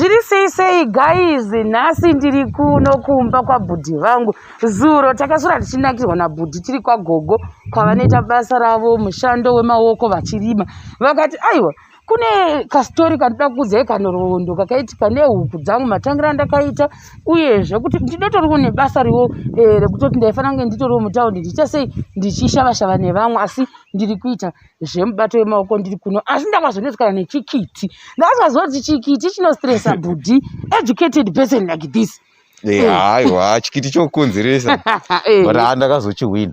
tiri sei sei guys nhasi ndiri kuno kumba kwabhudhi vangu zuro takasvura tichinakirwa nabhudhi tiri kwagogo kwavanoita basa ravo mushando wemaoko vachirima vakati aiwa kune kastori kandida kukudzai kanorondo kakaitika nehuku dzangu matangira ndakaita uyezve kuti ndidotoriwo nebasa riwo eh, rekutoti ndaifanira kunge nditoriwo mutaundi ndiita sei ndichishavashava nevamwe asi ndiri kuita zvemubato wemaoko ndiri kuno asi ndakazonetsana nechikiti ndakazoziva kuti chikiti chinostresa bhudhi educated person like this eh, aiwa chikiti chokukonzeresa eh. but haa ndakazochihwina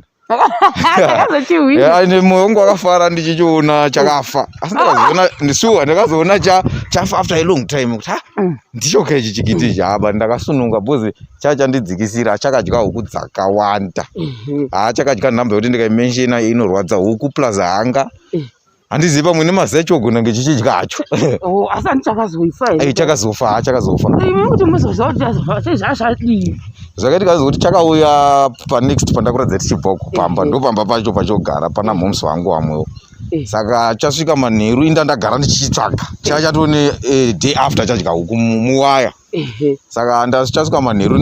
ndakazochihwinaine moyo wangu wakafara ndichichiona chakafa asi ndakazoona ndisuwa ndakazoona chafa after a long time kuti ha mm. ndichoka ichi chikiti ichi haba ndakasununga bcoz chaa chandidzikisira chakadya huku dzakawanda mhm. haa ah, chakadya nhamba yekuti ndikaimenshina inorwadza huku plus hanga mm. handizivi pamwe nemazi acho ogona kunge chichidya hacho oh, asi ani chakazofa eh, chakazofa haa chakazofa zvakaiti kazi kuti chakauya panext pandakuratidza tichibvako pamba eh, eh. ndopamba pacho pachogara pana moms vangu vamwewo Eh. saka chasvika manheru inda ndagara ndichichitsvaga chava chatone eh, day after chadya huku muwaya saka ndachasvika manheru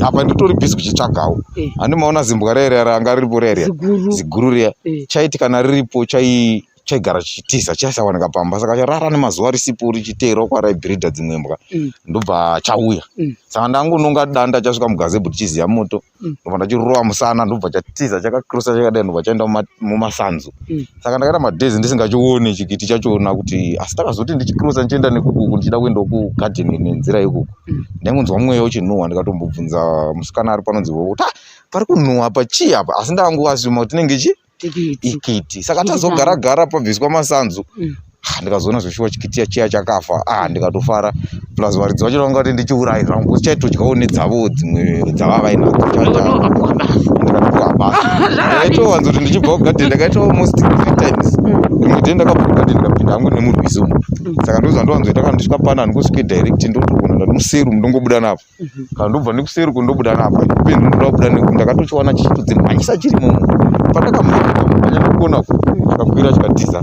apa nditori busy kuchitsvagawo eh. handi maona zimbwa riya riya ranga riripo riya riya ziguru riya eh. chaiti kana riripo chai chaigara chichitiza chaisawanika pamba saka charara nemazuva risipo richiteerwa kwaraibhirida dzimwe mbwa mm. ndobva chauya mm. saka ndangononga danda chasvika mugazebhu tichiziya moto mm. ndobva ndachirova musana ndobva chatiza chakakrosa chakadai ndobva chaenda mumasanzu mm. saka ndakaita madays ndisingachioni chikiti chachiona kuti asi takazoti ndichikrosa ndichienda nekukuku ndichida kuendawo kugarden nenzira yekuku mm. ndaingonzwa mweya uchinhuhwa ndikatombobvunza musikana ari panonzi kuti pari kunhuhwa apa chii apa asi ndakangoasuma kuti tinenge chii tikiti saka tazogara gara pabviswa masanzu mm. ah, ndikazoona zveshuwa chikitiya chiya chakafa ah, ndikatofara plus varidzi vacho vanga kuti ndichiurayi zvangu kuti chaitodyawo nedzavo dzimwe dzava vainadzo ndikaitowanza kuti ndichibva kugadheni ndakaita almost three times mm. rimwe dei ndakabva kugadheni ndikapinda hangu nemurwizi umu mm. saka ndozvandowanzoita kana ndisvika panani kusvike direct ndotogona ndati museru mundongobuda napo mhm. kana ndobva nekuseri uko ndobuda napa penzi ndoda kubuda nekuti ndakatochiwana chichitodzimhanyisa chiri mumu pandakamuanya ndikuona chikakwira chikatiza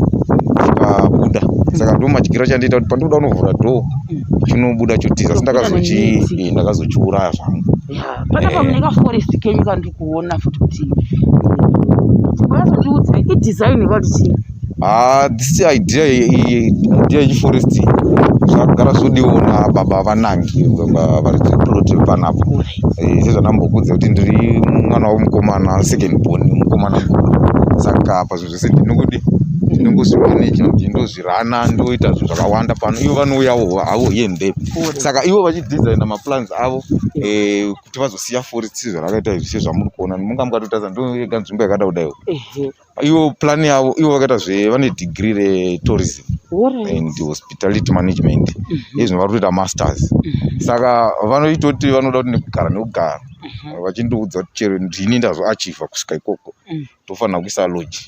chikabuda saka ndo madyiro chandiita kuti pandikuda kunovhura dho chinobuda chotiza asi ndakazochii ndakazochiuraya zvangu panapa mune kaforest kenyu kandikuona futi kuti vazotiudza idesign vati chii haa this idea idea yechiforest zvagara zvodiwa na baba vanangi variprote panapo eh, sezvandambokudza kuti ndiri mwana wavo mukomana second born mukomana mukuru saka apa zvinhu zvese ndinokuti ndinongozvimaneja kuti ndozvirana ndoita zvinhu zvakawanda pano ivo vanouyawo havo here mbepo saka ivo vachidesigna maplans avo eh, kuti vazosiya forest sezvarakaita izvi sezvamuri kuona munga mukatotaza ndoega nzvimbo yakada kudaiwo iwo plan yavo ivo vakaita zve vane degree retourism right. and hospitality management mm -hmm. izvino vari kutoita masters mm -hmm. saka vanoita kuti vanoda kuti nekugara nekugara mm -hmm. vachindiudza kuti chero ndini ndazvoachiva kusvika ikoko mm. tofanira kuisa lodge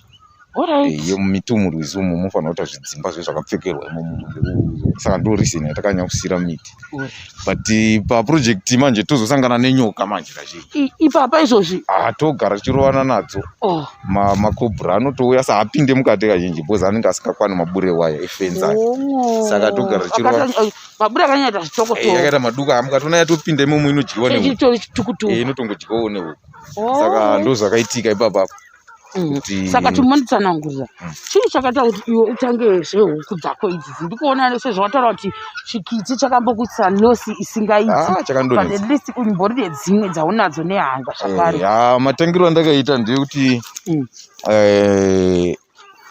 eh, yemumitumuri right. izumu mofanira kuita zvidzimba zve zvakapfekerwa imomo saka ndo reason yatakanyanya kusira miti right. but eh, paproject manje tozosangana nenyoka manje kazhinji ipapa izvozvi ah, togara tichirovana nadzo oh. macobra anotouya sa apinde mukati kazhinji bcause anenge asingakwani mabure waya efenzi ake oh. saka togara tichirovamabure eh, akanyaita zvitokotakaita eh, maduka amukatona yatopinda imomo inodyiwa neinotongodyiwawo nehuku oh. saka ndozvakaitika ipapa apa Mm. saka timonitsanangurira mm. chii chakaita kuti iwe utange zvehuku dzako idzi ndikuona sezvawataura kuti chikiti chakambokuitisa nosi isingaitiatlist ah, umbori nedzimwe dzaunadzo nehanga zvakare eh, ah, matangiro andakaita ndeyekuti mm. eh,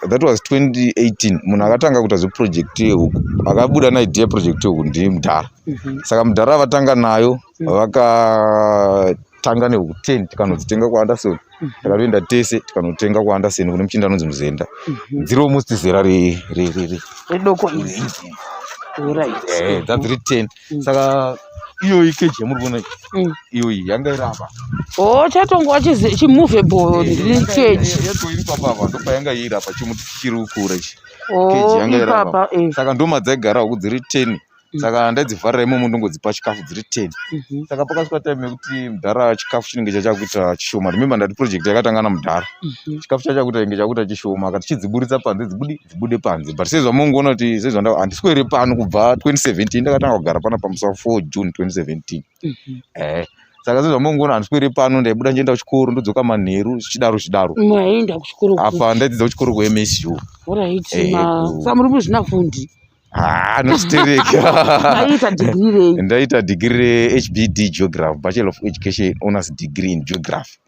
that was 2018 munhu akatanga kuita zveproject yehuku akabuda naidea project yehuku ndimudhara mhm. saka mudhara vatanga nayo vaka tanga nehuku ten tikanodzitenga kwaanderson mhm. takatoenda tese tikanotenga kwaanderson kune muchinda anonzi muzenda mhm. dziri almost zera redoko eh, dzadziri ten mm. saka iyoyi keji yamuri kuona mm. iyoyi yanga iri apa o oh, chatongwa chimovable eh, keji yatoiri papa apa ndopayanga iri apa chimuti chichiri kukura ichi oh, keji yanga iri apa eh. saka ndoma dzaigarawo kudziri ten Mm. saka ndaidzivharira imomo ndongodzipa chikafu dziri ten Mhm. saka pakasvika time yekuti mudhara chikafu chinenge chachakuita chishoma remember ndati project yakatanga namudhara Mhm. chikafu chachakuita inge chakuita chishoma akati chidziburitsa panze dzibudi dzibude panze but sezvamongoona kuti sezvanda handiswere pano kubva 2017 ndakatanga kugara pana pamusa 4 june 2017 Mhm. eh saka sezvamongoona handiswere pano ndaibuda ndichienda kuchikoro ndodzoka manheru zvichidaro zvichidaro Maienda kuchikoro ku- apa ndaidzidza kuchikoro kuMSU Alright, Eh, ma- ku- sa muri muzvinafundi. Ah, ndaita digiri rehbd geography bachelor of education owners degree in geography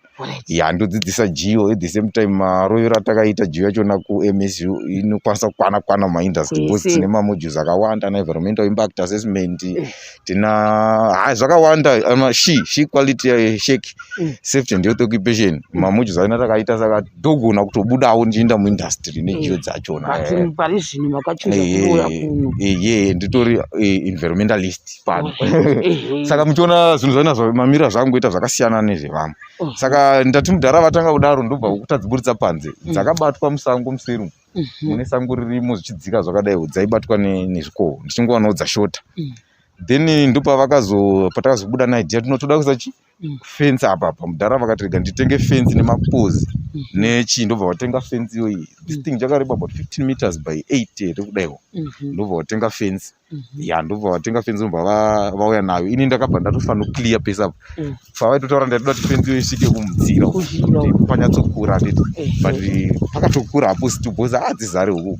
ya ndodzidzisa geo at the same time marovero atakaita geo yachona kumsu inokwanisa kukwana kwana mumaindustry bcause tine mamodules akawanda anaenvironmental impact assessment eh. tina ha zvakawanda ama she she quality uh, shake mm. safety and health occupation mm. mamuchi zaina takaita saka dogona kutobudawo ndichienda muindustry nejiyo mm. dzachona eh. pari zvino makachuza eh, kuuya eh, kuno eye nditori environmentalist pano saka muchiona zvinhu zvainazvo mamira zvangu kuita zvakasiyana nezvevamwe oh. saka ndati mudhara vatanga kudaro ndobva kutadziburitsa panze dzakabatwa musango musiru mhm. mune sango ririmo zvichidzika zvakadai dzaibatwa nezvikoho ndichingowana udza shota mm. then ndopavakazopatakazobuda naidea tinotoda kuisa chi mm. fence apa apa mudhara vakatirega nditenge fence nemapozi mm. nechii ndobva vatenga fence iyoyi this thing chakareba about 15 meters by 8 here kudaiwo mhm. ndobva vatenga fence Mhm. ya ndobva vatenga fenzi vobva vauya nayo ini ndakabva ndatofanira kuclear pesa apo mm. pavaitotaura ndaitoda kuti fenzi isvike kumudzira panyatsokura anditi but pakatokura hapo situbozi hadzizare huku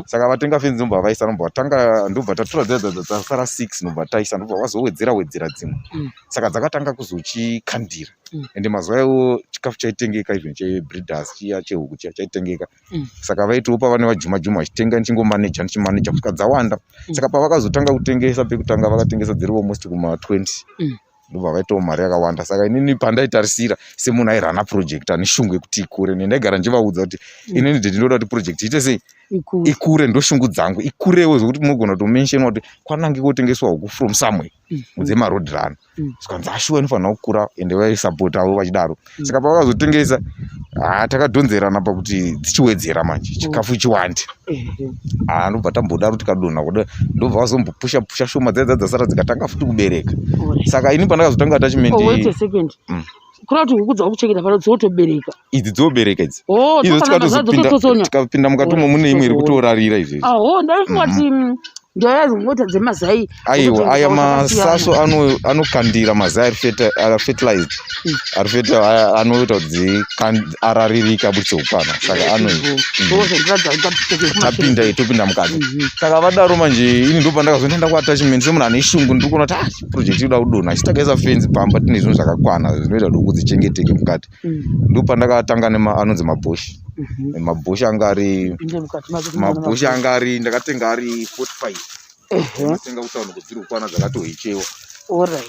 saka vatenga fenzi nobva vaisa nobva vatanga ndobva tatora dzadzadzasara six nobva taisa ndobva vazowedzera wedzera dzimwe mm. saka dzakatanga kuzochikandira mm. ende mazuva iwo chikafu chaitengeka even chebreeders chiya chehuku chiya chaitengeka Mm. saka vaitiwo pava nevajuma juma vachitenga ndichingomaneja ndichimaneja kusvika dzawanda mm. saka pavakazotanga kutengesa pekutanga vakatengesa dziri almost kuma 20 mm. ndobva vaitawo mari yakawanda saka inini pandaitarisira semunhu airana project ane shungu yekuti ikure ne ndaigara ndichivaudza kuti inini de ndinoda kuti project iite sei ikure ndoshungu dzangu ikurewo zvekuti munogona kutomenshena kuti kwanange kotengeswa huku from somewhere mudze maroad rano mm. zvikanzi ashuwa inofanira kukura ende vaisapotawo vachidaro mm. saka pavakazotengesa ah, takadhonzerana pakuti dzichiwedzera manje mm. chikafu chiwande ah, ndobva tambodaro tikadonha kuda ndobva vazombopusha pusha shoma dzaidza dzasara dzikatanga futi kubereka saka ini pandakazotanga attachment kuna kuti huku dzakuchengeta pano dzinotobereka idzi dzobereka idzi oh, tikapinda mukati umo mune imwe iri kutorarira izvezvi aho ah, ndaifungati mhm. mm, ndaya dzimota dzemazai aiwa aya masaso anokandira mazai ari fertilized mm. ari feta anoita kuti araririke abudise upana saka anoitapinda mm. topinda mukati mhm. saka vadaro manje ini ndopandakazoenda ndakuatachment semunhu ane shungu ndiri kuona kuti ah, project inoda kudonha asi takaisa fenzi pamba tine zvinhu zvakakwana zvinoita kuti huku dzichengeteke mukati mm. ndopandakatanga anonzi mabhoshi mhm. mabhoshi anga ari mabhoshi anga ari ndakatenga ari 45 ndatenga kutaona kudziri kukwana dzakatohechewa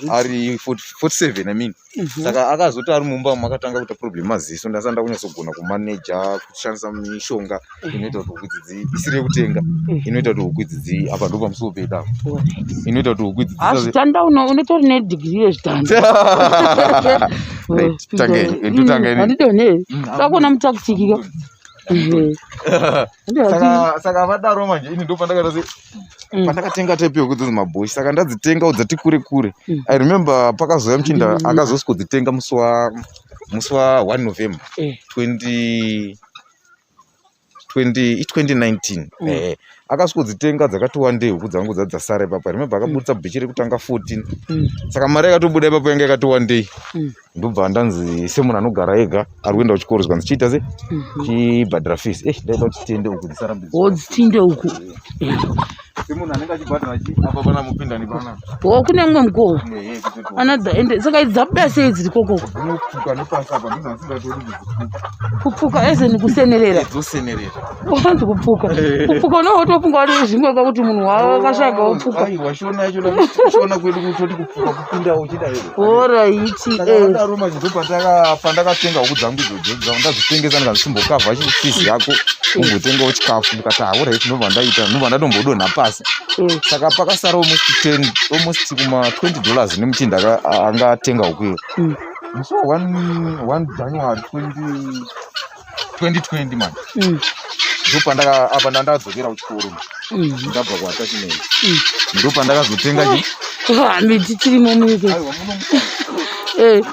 ari 47 i mean Mhm. saka akazoti ari mumba umu akatanga kuita problem maziso ndasanda kunyatsogona kumaneja kushandisa mishonga mhm. inoita kuti huku idzidzi isiri yekutenga mhm. inoita kuti huku idzidzi apa ndo pamusiwo peda inoita kuti huku idzidzitanda ah, unotori nedigiri yezvitanda takuona mutakutikika saka vadaro manje ini ndopandakatasi Mm. pandakatenga type yekuti dzinzi maboshi saka ndadzitenga dzati kure kure mm. i remember pakazouya muchinda mm. akazosi kudzitenga musi wa musi wa 1 november 20 eh. 2019 mm. eh, akasviko dzitenga dzakati wandei huku dzangu dzati dzasara ipapa remembe akabudisa mm. bhechi rekutanga 14 mm. saka mari yakatobuda ipapa yanga yakati wandei mm. ndobva ndanzi semunhu anogara ega ari kuenda kuchikoro zvikanzi chiita se mhm. chibhadhara fees e eh, ndaida kuti tiende uku dzisarambidzitinde uku semunhu anenge achibhadhara apa pana mupinda nepana o kune mumwe mukowo anadza ende saka idzi dzabuda sei dziri kokoko kupfuka nepasi apa ndizvo asingatodi kupfuka ezeni kusenerera dzosenerera ufanzi kupfuka kupfuka unenge utofunga wati zvimwe kwakuti munhu wakasvaga wopfuka oraiti pandakatenga huku dzangu idzodzo ndazvitengesa ndikazvisimbokavha chifizi yako umbotengawo chikafu ndikati hauraiti ndobva ndaita ndobva ndatombodonha pasi saka pakasara almost ten almost kuma twenty dollars nemuchinda anga atenga huku iyo musi wa one january twenty 2020 mani mm. ndopandakaapa ndandakadzokera kuchikoro mm. ndabva kuatachimeni mm. ndopandakazotenga chi hami tichiri momike eh.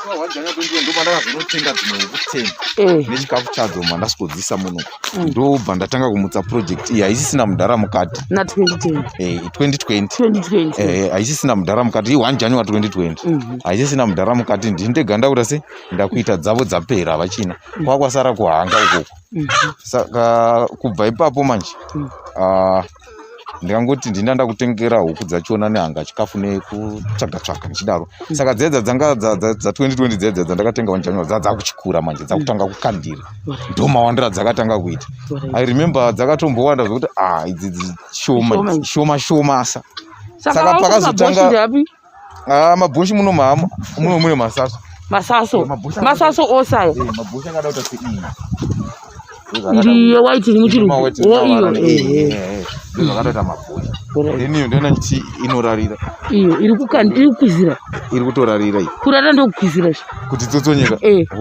ndopandakazonotenga dzimwe yekuteni eh. nechikafu chadzo mandasikodzisa muno ndobva ndatanga kumutsa project iyi haisisina mudhara mukati na 2020 haisisina mudhara mukati i 1 january 2020 haisisina mudhara mukati ndindeganda kuta sei ndakuita dzavo dzapera havachina mm. kwakwasara kuhanga ukoko mm-hmm. saka kubva ipapo manje mm. ah, ndikangoti ndinda ndakutengera huku dzachona nehanga chikafu nekutsvaga tsvaga ndichidaro mm. saka dzedza dzanga dza2020 dzedza dzandakatenga wanjanywa dzadzakuchikura manje dzakutanga kukandira ndomawandira dzakatanga kuita i remember dzakatombowanda zvekuti ah idzi shoma shoma shoma sa saka pakazotanga Ah, mabhosho muno mama muno mune masaso masaso eh, masaso ose ayo eh, mabhosho akada kuita seiyi iriyo waiti iri muchiruo iyo eh, zvakatoita mabhosho then iyo ndoona kuti inorarira iyo iri kukanda iri kukwizira iri kutorarira iyi kurara ndokukwizira izvi kuti dzotsonyeka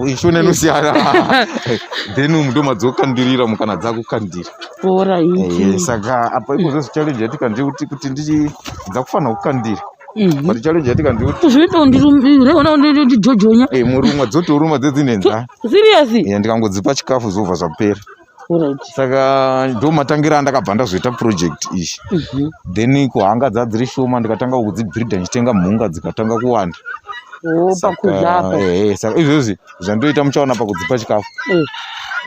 ishona inosiyana then umu ndomadzokandirira mukana dzakukandira bhora eh, saka apa ikozo challenge yatika ndekuti kuti ndichidza kufanira kukandira mhm. but challenge yatika ndekuti zvinoita kundirumbira ona ndijojonya eh murumwa dzotoruma dzedzinenza serious eh ndikangodzipa chikafu zova zvapera saka ndo matangira andakabva ndazoita project iyi mhm. then kuhanga dzadziri shoma ndikatanga kudzibhirida ndichitenga mhunga dzikatanga kuwanda oh, saka eh, izvozvi zvandoita muchaona pakudzipa chikafu mm.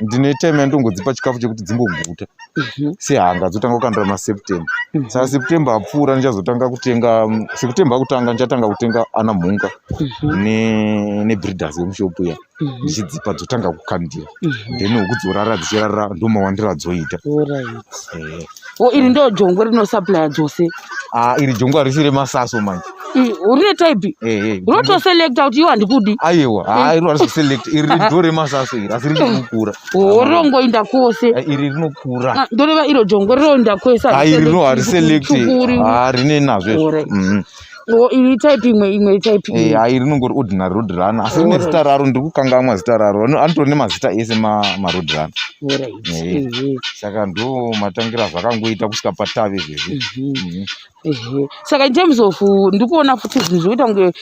ndine time yandongodzipa chikafu chekuti dzimboguta mhm. sehanga dzotanga kukandira maseptember mhm. saka september apfuura ndichazotanga kutenga mm, september akutanga ndichatanga kutenga ana mhunga mhm. nebreeders yemushopu ya ndichidzipa dzotanga kukandira then huku dzichirara ndomawandira dzoita eh. o iri ndo jongwe rinosaplaya dzose ah, iri jongwe harisi remasaso manje rine type unotoselecta kuti iyo handikudi aiwa iro harisi kuselect iri ndo remasaso iri asi rinokukura o rinongoinda kwose iri rinokura ah, ndoreva iro jongwe rinoinda kwese rino hariselect rine nazvo Oh, iri type imwe imwe type imwe. Eh, ayi rinongori ordinary road runner. Asi rine zita raro ndiri kukangamwa zita raro. Anotori nemazita ese ma ma road runner. Alright. Eh, eh. Saka ndo matangira zvakangoita kusvika patave izvezvi. Mhm. Mhm. Ehe. Saka in terms of uh, ndiri kuona futi zvinhu zvoita kunge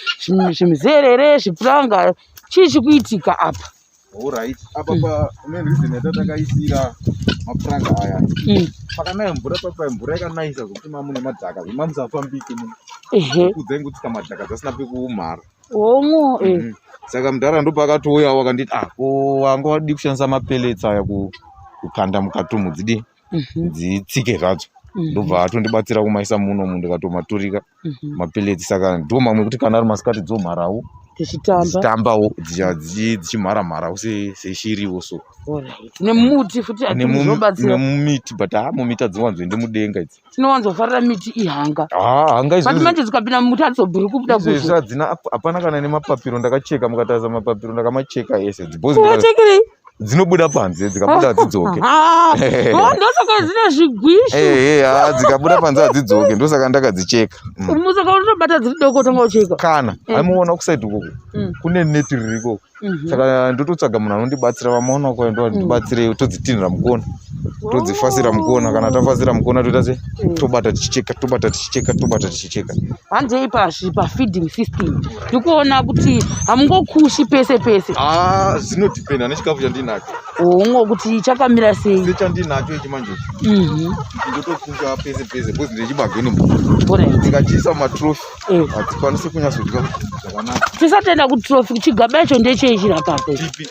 zvimizerere, zvipuranga, chii chikuitika apa? Alright. Apa pa ne reason yatatakaisira mapuranga aya. Mm. Pakanaya mvura papa mvura yakanayisa zvekuti mamune madhaka zvima musafambike mu. Ehe. Kudza ingu tsika madhaka dzasina pekumhara. Womwo eh. Mhm. Saka mudhara ndo pakatouya wakanditi ah ko wanga wadi kushandisa mapeletsa aya ku kukanda mukati mudzidi. mhm. dzitsike zvadzo mhm. ndobva atondibatsira kumaisa muno mu ndikatomaturika mhm. mapeletsi saka ndo mamwe ekuti kana ari masikati dzomharawo dzichitambawo dzichimhara mharawo seshiriwo so nemumiti futi nemumiti but ha mumiti adziwanzoende mudenga idzi tinowanzofarira miti ihanga hanga izbut manje dzikapinda mumuti adzobhuri kubuda kuizvezvi hadzina hapana kana nemapapiro ndakacheka mukatarisa mapapiro ndakamacheka ese dzibhozichekirei dzinobuda panze dzikabuda hadzidzoke ah, oh, ndosaka dzine zvigwishu eh, eh, ah, dzikabuda panze hadzidzoke ndosaka ndakadzicheka mm. musaka unotobata dziri doko tanga ucheka kana eh. aimuona kusaidi ikoko mm. kune neti riri ikoko mhm. saka ndototsvaga munhu anondibatsira vamaona kwayo ndo andibatsire mm. todzitinhira mukona todzifasira mukona kana tafasira mukona toita se mm. tobata tichicheka tobata tichicheka tobata tichicheka hanzei pazvi pafeeding system ndikuona kuti hamungokushi pese pese ah, zvinodependa nechikafu chandinacho hongo oh, kuti chakamira sei sechandinacho ichi manje mhm. ndotokuka pese pese bcause ndechibageni ndikachiisa matrofi eh. hatikwanisi kunyatsodya zvakanaka tisatenda kuti trofi chigaba icho ndecheichirapapo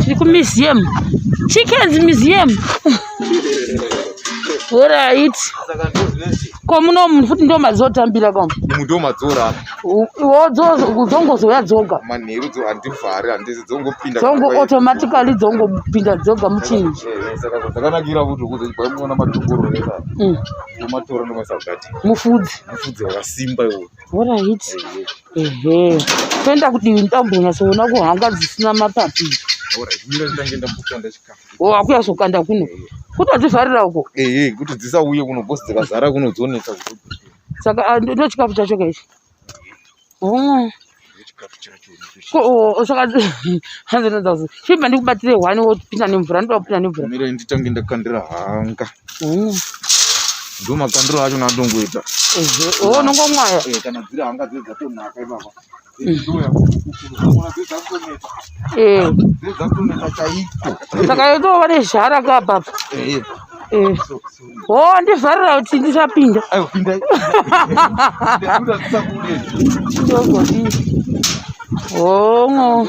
tiri kumuseum chickens museum orit ko muno munhu futi ndo madzotambira ka mu ndo madzora dzongozouya dzoga manheru dzo handivhari handizi dzongopinda dzongo automatically dzongopinda dzoga muchinhu eh, eh, saka zvakanakira kuti kuzoibaimona matunguro eka mm. umatora ndomasagati mufudzi mufudzi wakasimba iwo orit ehe toenda kudivi ndambonyatsoona kuhanga dzisina mapapi wakuya zvokanda kuno kutodzivharira uko ehe kuti dzisauye kuno bhosi dzikazara kuno dzonetsa saka ah, ndochikafu chacho kaichi oh. chibva ndikubatire hwani wopinda nemvura ndoda kupinda nemvura nditange ndakandira hanga mm. ndo makandiro acho natongoita unongomwaya oh, eh, kana dziri hanga dzedza tonaka ipapa saka yotova nezhara ka baba ho ndivharira kuti ndisapinda hongo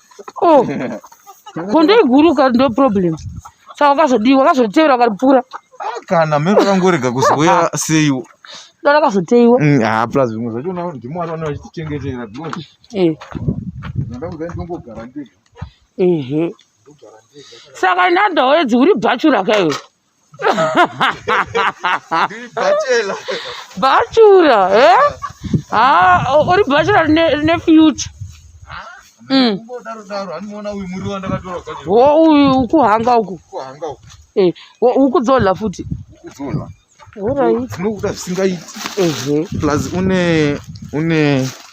oh gondo iguru ka ndo problem saka wakazodii wakazotevera ukaripfuura kana mhero vakangorega kuzouya seiwo ndo rakazoteiwa mm, ha plus zvimwe zvacho ndimwari vana vachitichengetera because eh. ndoda kudai ndongogara ndega ehe saka nandawedzi uri bhachura kaiwe bhachura eh? uri bhachura rine future mm. wo uyu ukuhanga uku eh, ukudzola futi unokuda zvisingaiti plus une une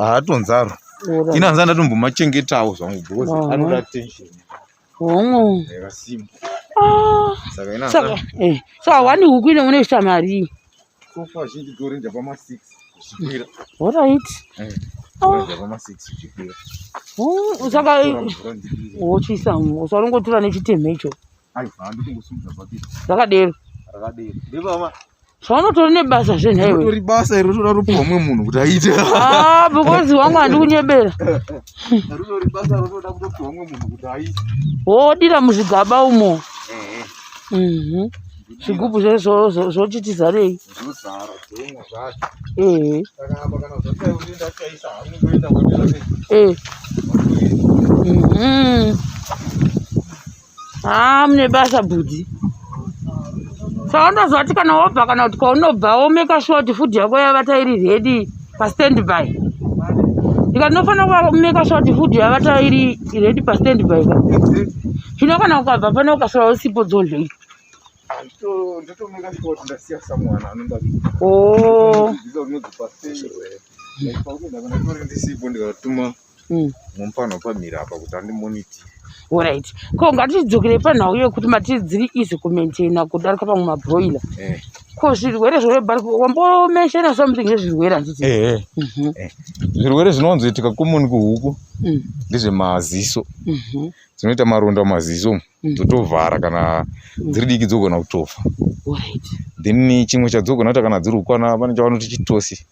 haatonzaro inanza ndatombomachengetawo zvangu because anoda attention hongu saka eh, hawani huku ine une kuita marii orit saka wochiisa usaringotura nechitemhe icho rakadero zvaunotori nebasa zve nhaiwetori basa iri rinotoda rupiwa mumwe munhu kuti aite ah, because wangu handi kunyebera wodira muzvigaba umo mhm. zvigubhu zvoti tizarei ehe eh. mhm. haa mune basa bhudhi saka ndoziva kuti kana wobva kana kuti kwaunobva womeka shuwa kuti fudhi yako yavata iri redi pastandby ika ndinofanira kumeka shuwa kuti fudhi yavata iri redi pastandby ka zvino kana ukabva pane ukasara usipo dzodlei oh. mm. mumupano pamira apa kuti andimoniti orit ko ngatidzokere panhau yekuti mati dziri easy kumaintaina kudarika pamwe mabroiler eh. ko zvirwere zvorebarwambomenshena something ezvirwere handiti eh, eh. mhm. eh. zvirwere zvinonzoitika komoni kuhuku mm. ndezvemaziso mhm. dzinoita maronda maziso mm. dzotovhara kana mm. dziri diki dzogona kutofa then chimwe chadzogona kuita kana dziri ukwana pane chavanoti chitosi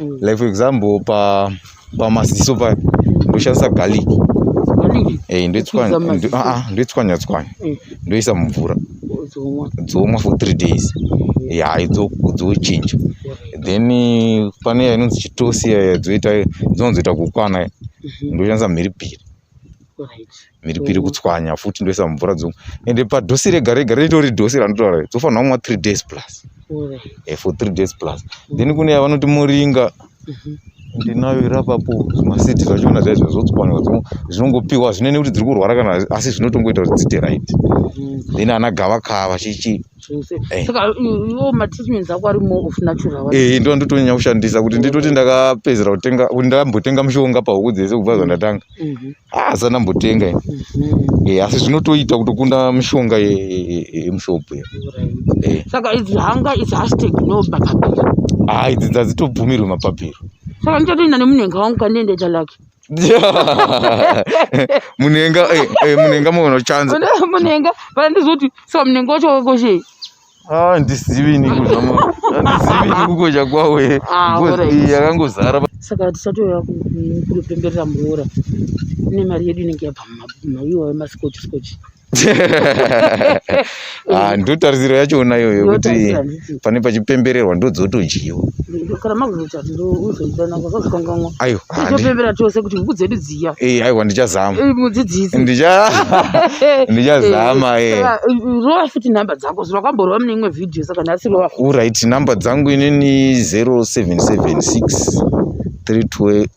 mm. like for example pa pamaziso pa ndoshandisa garlic eh, ndoitswanya tswanya mm. ndoisa mumvura dzomwa for three days ya dzochinja then pane yainonzi chitosi yaya dzoita dzinonzoita kukwana mhm. ndoshandisa mhiripiri mhiripiri kutswanya futi ndoisa mumvura dzongu ende padosi rega rega ritori dosi ranotaura dzofanira kumwa three days plus eh, for three days plus then kune yavanoti muringa mhm. ndinayo irapapo zvimasidi zvachona zvaizvo zvotswanywa zvinongopiwa zvinene kuti dziri kurwara kana asi zvinotongoita kuti dzite right mhm. then ana gavakava chichi zvese eh. saka iwo matreatments ako ari more of natural eh ndo ndotonyanya kushandisa kuti nditoti ndakapedzera kutenga kuti ndakambotenga mushonga pahuku dzese kubva zvandatanga mhm. ah, asi andambotenga ini mhm. eh, asi zvinotoita kutokunda mushonga yemushop e, e, e, saka idzi hanga is hashtag no mapapiro ah idzi dzadzitobvumirwe mapapiro saka ndichatoenda nemunhenga wangu kandiendeita lake munenga eh, eh, munenga muona chanza munenga pana ndizoti saka munenga wacho wakakoshe ah ndisivi ni kuzva mo ndisivi ni kukosha kwawe ah, yakangozara saka tisatouya kunopemberera muroora nemari yedu inenge yabva mumaiwa wemasikochi sikochi ah, ndo tarisiro yacho ona iyoyo kuti pane pachipembererwa ndo dzotodyiwa aiwa ndichazama ndichazamaorit number dzangu inini 0776 3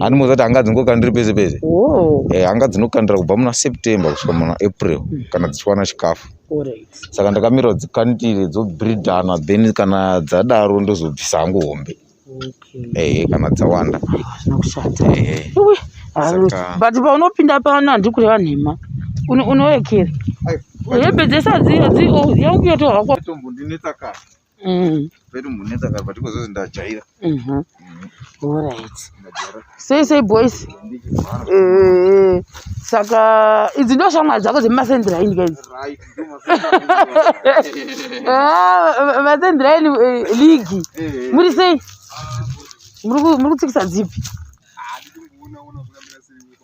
ani mozati hanga dzingokandiri pese pese eh, hanga dzinokandira kubva muna september kusvika muna april hmm. kana dzichiwana chikafu saka ndakamirwa dzikandire dzobridana then kana dzadaro ndozobvisa hangu hombe ehe kana dzawanda but paunopinda pano handiri kureva nhema unoekera hembe dzese adziyo yangu yotohakwa Mm. Pedu munetsa kapa tiko zose ndajaira. Mhm. Mm All right. Sei sei boys. Eh. Saka idzi ndo shamwari dzako dzemasendera ini guys. Right. Ah, masendera ini eh, league. Eh, eh. Muri sei? Muri muri kutsikisa dzipi?